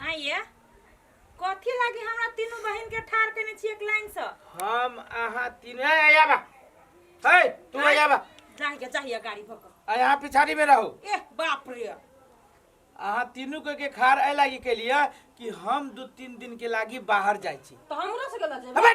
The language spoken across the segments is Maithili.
हाँ ये कथी लागी हमरा तीनू बहिन के ठार केने छी एक लाइन से हम अहाँ तीन ए आया बा हे तू आया बा जाहिया जाहिया गाड़ी भक आ यहाँ पिछाड़ी में रहो ए बाप रे अहाँ तीनू के के खार ए लागी के लिए कि हम दू तीन दिन के लागी बाहर जाइ छी तो हमरा से गला जेबे अबे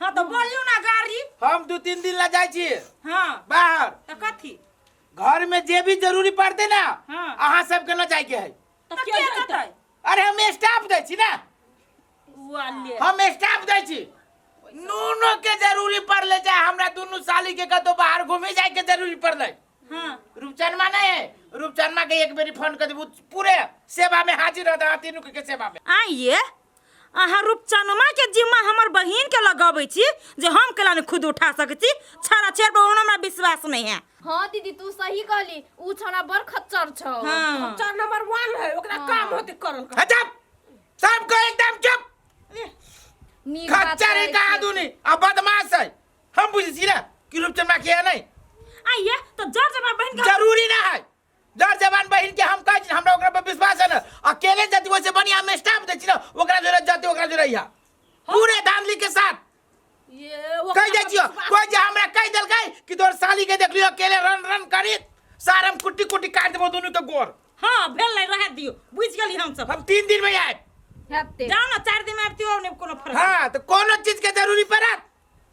हाँ तो बोलियो ना गाड़ी हम दू तीन दिन ला जाए छी हाँ बाहर तो कथी घर में जे भी जरूरी पड़ते ना हाँ। अहाँ सबके ना जाए के है तो तो के के जैतै देतै अरे हम स्टाफ दे छी ना वाले हम स्टाफ दे छी नूनो के जरूरी पड़ले चाहे हमरा दुनू साली के कतो बाहर घूमे जाए के जरूरी पड़ले हाँ रूपचनमा नहीं है रूपचनमा के एक बेरी फोन कर देबू पूरे सेवा में हाजिर रहता तीनू के सेवा में आइए अहाँ रूपचनमा के जिम्मा हमर बहिन के लगाबै छी जे हम केला ने खुद उठा सकै छी छाड़ा छेड़ पर ओहनो हमरा विश्वास नहीं है हाँ दीदी तू सही कहली ऊ छौड़ा बड़ खच्चर छौ हाँ चार नंबर वन है ओकरा काम होते करल कर। अच्छा सबको एकदम चुप नीक बात खच्चर कहै है कहा छी। दूनी अब बदमाश है हम बुझी छी ना कि रूपचंद माँ किया नहीं आइए तो जर जमा बहन के जरूरी ना है डर जवान बहिन के हम कह छी हमरा ओकरा पर विश्वास है ना अकेले जति वैसे बढ़िया हम स्टाफ दे छी ना ओकरा जोरे जति ओकरा जोरे या पूरे धांधली के साथ ये कह दे छियो कोई जे हमरा कह देल गई कि तोर साली के देखलियो अकेले रन रन करी सार हम कुट्टी कुट्टी काट देबो दोनों के गोर हां भेल नहीं रह दियो बुझ गेली हम सब हम तीन दिन में आए जाओ ना चार दिन में आबती हो नहीं कोनो फर्क हां तो कोनो चीज के जरूरी पड़त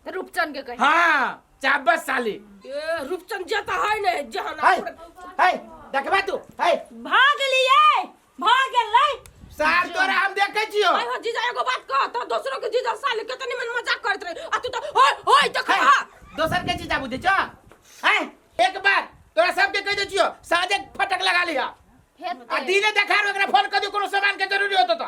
रूपचन के कहे हाँ चाबस साली ए, रूपचन जे त है ने जहान है है देखबा तू है भाग लिए भाग ले सार तोरा हम देखे छियो आय हो जीजा एगो बात कह त दोसरो के जीजा साले केतनी मन मजाक करत रहे आ तू त होय होय त है, खा दोसर के चीज बुझे छ है एक बार तोरा सबके कह दे छियो साजे फटक लगा लिया आ दिने देखार ओकरा फोन कर दियो कोनो सामान के जरूरी होतो तो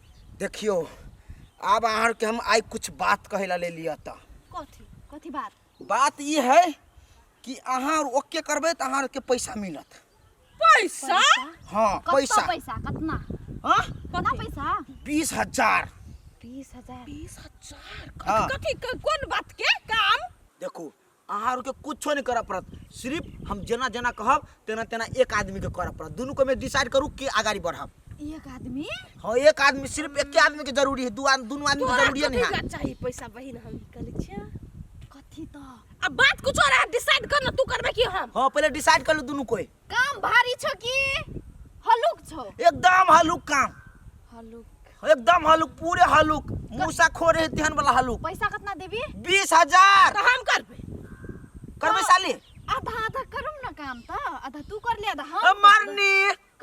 देखियो आब आहार के हम आई कुछ बात कहे ला ले लिया ता कथी कथी बात बात ई है कि आहार ओके करबे त आहार के पैसा मिलत पैसा हां कतना पैसा पैसा कतना हां कतना पैसा बीस हजार बीस हजार बीस हजार हाँ। कथी क- कौन बात के काम देखो अहाँ आरके कुछो नहि करऽ पड़त सिर्फ हम जेना जेना कहब तेना तेना एक आदमीके करऽ पड़त दुनू कोमे डिसाइड करू के अगाडि बढ़ब एक आदमी हँ एक आदमी सिर्फ एके आदमीके जरूरी है दू आदमी दुनू आदमीके तोरा जरूरी कथी नहि है लए चाही पैसा बहिन हम ई कहले छियै कथी तऽ अब बात कुछ और है डिसाइड कर ना तू करबे कि हम हँ पहिले डिसाइड कर लू दुनू कोई काम भारी छौ कि हलुक छौ एकदम हलुक काम हलुक एकदम हलुक पूरे हलुक मूसा खो रहे तेहन वाला हलुक पैसा कितना देबी बीस हजार तो हम करबे करबे साली आधा आधा करू ना काम तो आधा तू कर ले आधा हम मरनी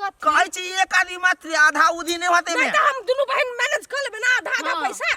कहै छी एक आदमी मात्र आधा उधी नहीं होते नहीं तो हम दोनों बहन मैनेज कर लेबे ना आधा आधा हाँ। पैसा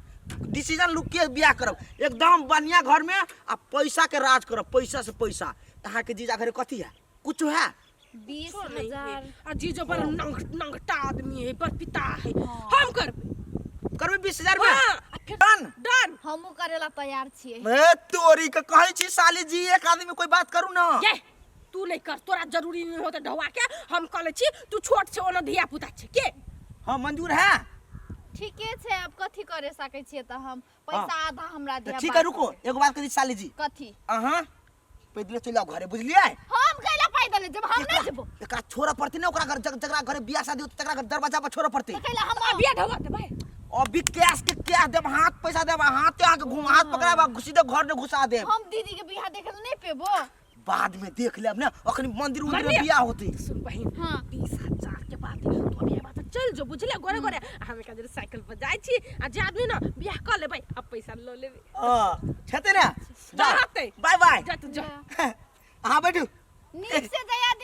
डिसीजन लू के बियाह करब एकदम बढ़िया घर में आ पैसा के राज करब पैसा से पैसा तहाँ के जीजा घरे कथी है कुछ है बीस कुछो नहीं हजार है। आ जीजो बड़ नंग- नंगटा आदमी है बड़ पिता है हम करबे करबे बीस हजार में हाँ। आ फिर डन डन हमहूँ करे ला तैयार छियै ए, तोरी के कहै छी साली जी एक आदमी कोई बात करू ना ये तू नहीं कर तोरा जरूरी नहीं होते ढवा के हम कह ले छी तू छोट छे ओना धिया पुता छे के हां मंजूर है ठीके छे अब कथि करे सके छी त हम पैसा हाँ। आधा हमरा दे ठीक है रुको एगो बात करी साली जी कथि अहां पैदल चल जाओ घरे बुझलिए हम कैला पैदल जब हम नहीं जबो एकरा छोरा पड़ते ने ओकरा घर जकरा घरे बियाह शादी होते तकरा घर दरवाजा पर छोरा पड़ते कैला हम बियाह ढवा दे भाई अभी कैश के कैश देब हाथ पैसा देब हाथ आके घुमा हाथ पकड़ाबा घुसी दे घर ने घुसा देब हम दीदी के बियाह देखल नहीं पेबो बाद में देख लेब ना अखनी मंदिर उंदिर में मन्दिर? बियाह होते तो सुन बहिन हाँ। बीस हजार के बात है तो अभी बात चल जो बुझले गोरे गोरे आ हम एक साइकिल पर जाए छी आ जे आदमी ना बियाह कर लेबै अब पैसा लो लेबै हां छते ना जा रहते बाय बाय जा तू जा हाँ बैठू नीक से जया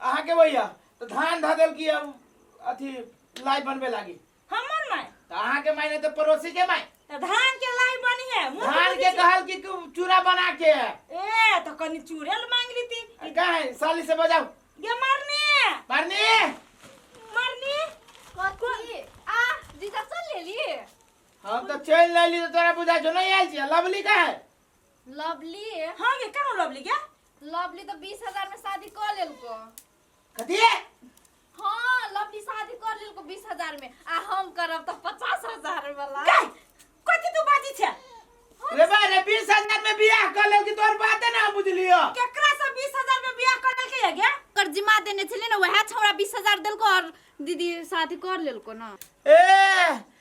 अहाँ के भैया तो धान धऽ देल की अब अथी लाई बनबे लागी हमर माय तो अहाँ के मायने तो पड़ोसी के माय त धान के लाई बनी है मुंह धान बुझी के छी। कहल की कु- चूरा बना के ए तो कनी चूड़ेल मांग ली थी आ का है साली से बजाओ गे मरने मारनी मरने कथी आ जीजा सुन लेली हम तो चल लेली तो तोरा बुझा जो नहीं आयल छी लवली का है लवली हाँ गे कहाँ लवली क्या लवली तऽ बीस हजार में शादी कर लेलको कथी हाँ लवली शादी कर लेलको बीस हजार में आ हम करब तऽ पचास हजार वाला गई कथी तू बाजी छे रे बा रे बीस हजार में बियाह कर ले कि तोर बाते ना बुझलियो केकरा से बीस हजार में बियाह कर लेलके है गे कर जिमा देने छले ना वह छौड़ा बीस हजार देलको और दीदी शादी कर लेलको ना ए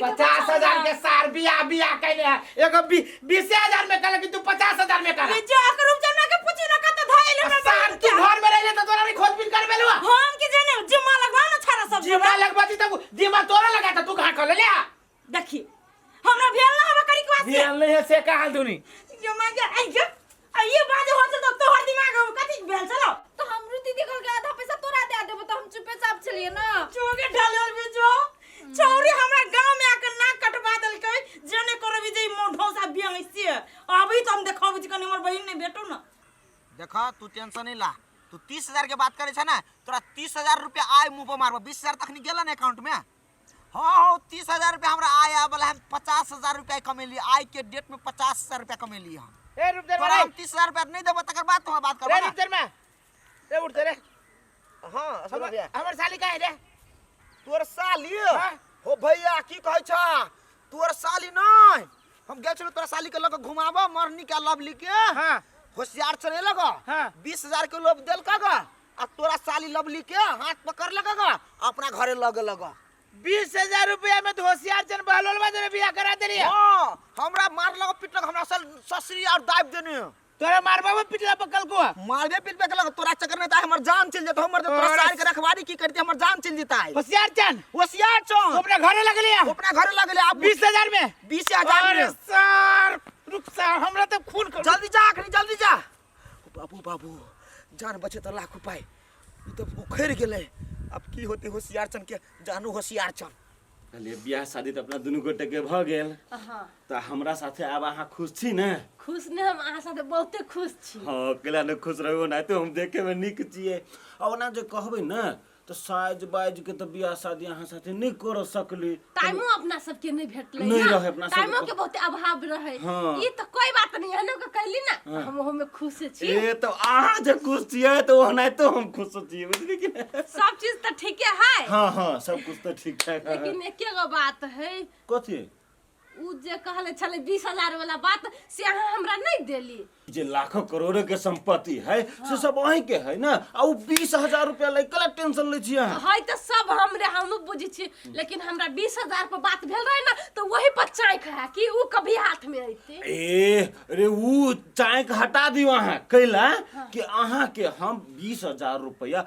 पचास हजार के सार बिया बिया कैले है एगो बी- बीसे हजार में कहले कि तू पचास हजार में कर जो अकर रूम जमा के पूछी ना कत धइल हमरा सार तू घर में रहिले तो तोरा नहीं खोजबीन कर बेलवा हम के जाने जिम्मा लगवा ना छाड़ा सब जिमा लगबाती तब दिमाग तोरा लगा था तू कहां खोले ले देखी हमरा भेल ना हमरा करी क्वास भेल नहीं है से कहां दुनी जो मां जा आई जो आ ये बात हो तो तोहर दिमाग में कथि भेल छलो तो हम रुति देखल के आधा पैसा तोरा दे देबो तो हम चुपे चाप चलिए ना चोगे ढालल भी जो छौरी हमरा गांव में आके नाक कटवा देलकै जने करबी जे मोढो सा बियांग से अभी तो हम देखब जे कनी हमर बहिन ने भेटो ना देख तू टेंशन नहीं ला तू तीस हजार के बात करे छे ना तोरा तीस हजार रुपया आय मुंह पर मारबो बीस हजार तखनी गेला ना अकाउंट में हाँ हाँ तीस हजार रुपया हमरा आय आवे वाला है पचास हजार रुपया कमेली आय के डेट में पचास हजार रुपया कमेली हम ए रुक जा तोरा रे हम तीस हजार रुपया नहीं देबो तकर बाद तोहरा बात रे करबो रुक जा रे रे उठ जा रे हां असुर भैया हमर साली का है रे तोर साली हाँ। हो भैया की कहै छ तोर साली नै हम गेल छलौ तोरा साली के लग घुमाबो मरनी के लवली के हां होशियार चले लग हाँ। बीस हजार के लोभ देलका ग आ तोरा साली लवली के हाथ पकड़ लगा गा अपना घरे लगे लगा बीस हजार रुपया में तो होशियार चंद बहलोल में तेरे बियाह करा देली हाँ हमरा मार लगा पीट लगा हमरा सल ससुरी और दाब देने है। तोरा मारबा में पिटला पकल को मारबे पीट पे लगा तोरा चक्कर में ता हमर जान चल जाता हमर तो तोरा तोरा- साली के रखवारी की करती हमर जान चल जाता है होशियार चंद होशियार तो चौन अपने घरे लग लिया अपना घरे लगे ले आप बीस हजार में बीस हजार अरे में सर रुक सर हमरा तो खून कर जल्दी जा अखनी जल्दी जा बाबू बाबू जान बचे तो लाख उपाय ई तो उखड़ गेले अब की होते होशियार चन के जानू होशियार चन कहलिए बियाह शादी तो अपना दुनू गोटे के भ गेल हाँ तो हमरा साथे आब अहाँ खुश छी ने खुश ने हम अहाँ साथे बहुते खुश छी हाँ अकेला ने खुश रहबो ना तो हम देखे में निक छिए और ना जे कहबे ना तऽ साजि बाजि के तऽ बियाह शादी अहाँ साथे नहि करऽ सकली टाइमो अपना सबके नहि भेटलै नहि ने। रहै अपना सबके। टाइमो के बहुते अभाव रहै हाँ। ई तऽ कोई बात नहीं एहनो के कहली ना हाँ। हम ओहो में खुश छी ए तऽ अहाँ जे खुश छियै तऽ ओहनाइतो हम खुश छियै बुझली कि नहि? सब चीज तऽ ठीके है हाँ हाँ सब कुछ तऽ ठीक ठाक है लेकिन एके गो बात है कथी उ जे कहले छले बीस हजार वाला बात से अहाँ हमरा नहीं देली जे लाखों करोड़ों के संपत्ति है से सब अहीं के है ना आ उ बीस हजार रुपया ले कला टेंशन ले छी अहाँ है तो सब हमरे हम बुझी छी लेकिन हमरा बीस हजार पर बात भेल रहे ना तो वही पर चाँक है कि उ कभी हाथ में अयते ए अरे उ चाय के हटा दियो अहाँ कैला कि अहाँ के हम बीस हजार रुपया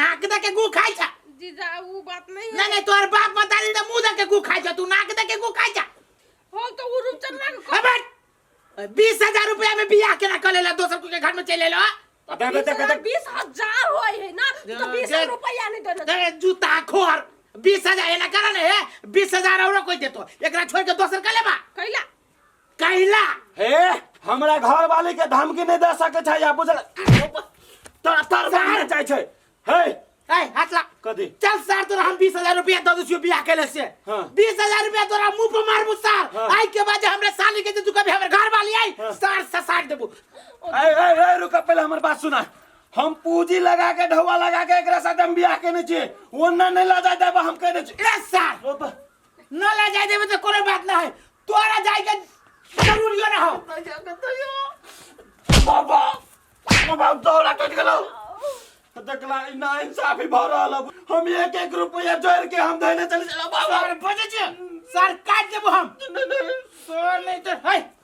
नाक दे के गु खाई जा जीजा वो बात नहीं नहीं है नहीं तोहर बाप बता दी तो मुंह दे के गु खाई जा तू नाक दे के गु खाई जा हो तो वो रुचन ना अबे बीस हजार रुपया में बियाह केना कर लेला दोसर को के घर में चले लो अबे अबे देख देख बीस हजार हो है ना तो दे- बीस दे- रुपया नहीं देना अरे जूता खोर बीस हजार एना करा ने बीस हजार और कोई देतो एकरा छोड़ के दोसर का लेबा कैला कहिला हे हमरा घर वाले के धमकी नहीं दे सके छै या बुझल तर तर सामने जाय छै हे ए हटला कदी चल सर तोरा हम बीस हजार रुपया दे दियो बियाह के से हाँ। बीस हजार रुपया तोरा मुंह पर मारबू सर हाँ। आई के बाद हमरे साली के जे तू कभी हमरे घर वाली आई हाँ। सर ससाट देबू ए ए ए रुक पहले हमर बात सुना हम पूंजी लगा के ढौआ लगा के एकरा साथ हम बियाह केने छी ओन्ना नहीं ला जाय देबा हम केने छी ए सर ओप, ना ले जाए देबे तो कोनो बात ना है तोरा जाए के जरूरियो ना हो बाबा बाबा दौरा कट गेलो तो देखला ई ना इंसाफी भ रहल अब। हम एक एक रुपया जोड़ के हम धैले चले चला बाबा अरे बजे जे सर काट देबो हम नहीं नहीं सर नहीं तो है